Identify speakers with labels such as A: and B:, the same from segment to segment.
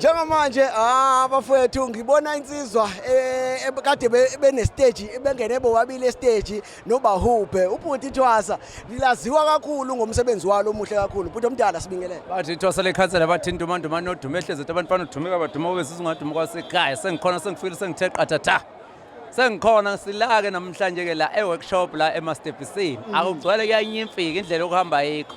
A: Njengamanje ah, abafowethu ngibona insizwa eh, eh, kade benestage bengene bobabili estage nobahubhe ubhuti Thwasa lilaziwa kakhulu ngomsebenzi walo omuhle kakhulu bhuti omdala sibingelele bathi Thwasa lekhansela
B: bathi intumandumane odume ehlezi abantu fanele udumeka baduma kube sizingaduma kwasekhaya sengikhona sengifikile sengithe qathatha sengikhona silake namhlanje ke la eworkshop la emastebhisini mm. akugcwele kuyanyimfika indlela okuhamba yikho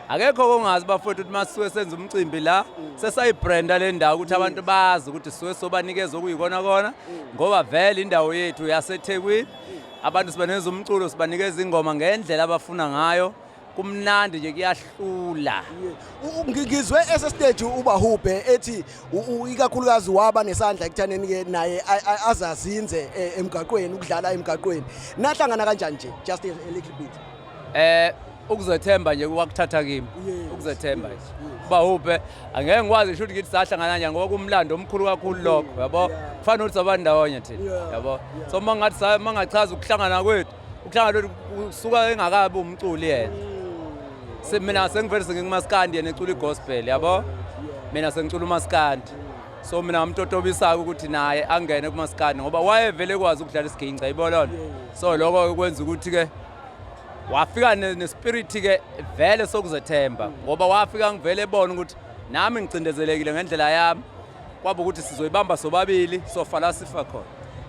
B: akekho kongazi bafowethu ukuthi masuke senza umcimbi la mm. sesayibranda le ndawo ukuthi mm. abantu bazi ukuthi suke sobanikeza okuyikona kona ngoba vele indawo yethu yasethekwini abantu sibaneza umculo sibanikeza ingoma ngendlela abafuna ngayo kumnandi nje kuyahlula
A: ngizwe esestage ubahubhe ethi ikakhulukazi waba nesandla ekuthaneni ke naye azazinze e, emgaqweni ukudlala emgaqweni nahlangana kanjani nje just a little bit eh ukuzethemba
B: nje kwakuthatha kimi ukuzethemba nje ubahubhe angeke ngikwazi shuthi ngithi sahlangana nje ngoba kumlando omkhulu kakhulu lokho yabo kufanele ukuthi sabandawonye thina yabo so mangathi mangachaza ukuhlangana kwethu ukuhlanga lolu kusuka engakabi umculi yena Se- mina sengivele sengikumaskandi yena ecula i-gospel yabo mina sengicula umaskandi so mina ngamtotobisa-ke ukuthi naye angene kumaskandi ngoba wayevele ekwazi ukudlala isiginca yibolona so lokho-ke kwenza ukuthi-ke wafika ne- nespiriti-ke vele sokuzethemba ngoba wafika ngivele ebona ukuthi nami ngicindezelekile ngendlela yami kwaba ukuthi sizoyibamba sobabili sofa la sifa khona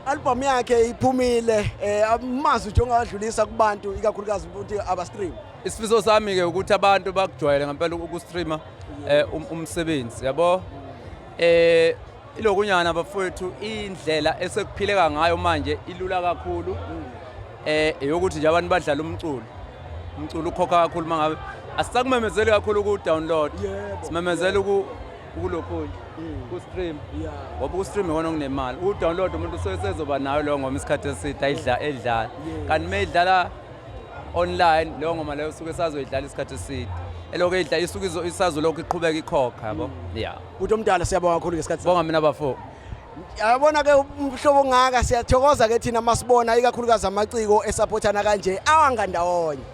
B: albhamu yakhe
A: iphumile eh, um amazwi nje ongawadlulisa kubantu ikakhulukazi ukuthi abastream isifiso sami-ke
B: ukuthi abantu bakujwayele ngempela ukustreama um umsebenzi yabo um eh, ilokunyana bafowethu indlela esekuphileka ngayo manje ilula kakhulu um eyokuthi nje abantu badlala umculo umculo ukhokha kakhulu uma ngabe asisakumemezeli kakhulu ukuwudownload simemezela ukulokhunye mm. kustream ngoba ustream iwona onginemali udownload umuntu usezoba nayo leyo ngoma isikhathi eside ayidla edlala kanti uma idlala online leyo ngoma leyo usuke sazoyidlala isikhathi eside elokhu idla isuke isazolokhu iqhubeka ikhokha yabo mm. ya uthi omdala
A: siyabonga kakhulu ngesikhathi bonga mina bafo
B: yabona
A: ke umhlobo ongaka siyathokoza ke thina masibona ikakhulukazi amaciko esaphothana kanje awangandawonye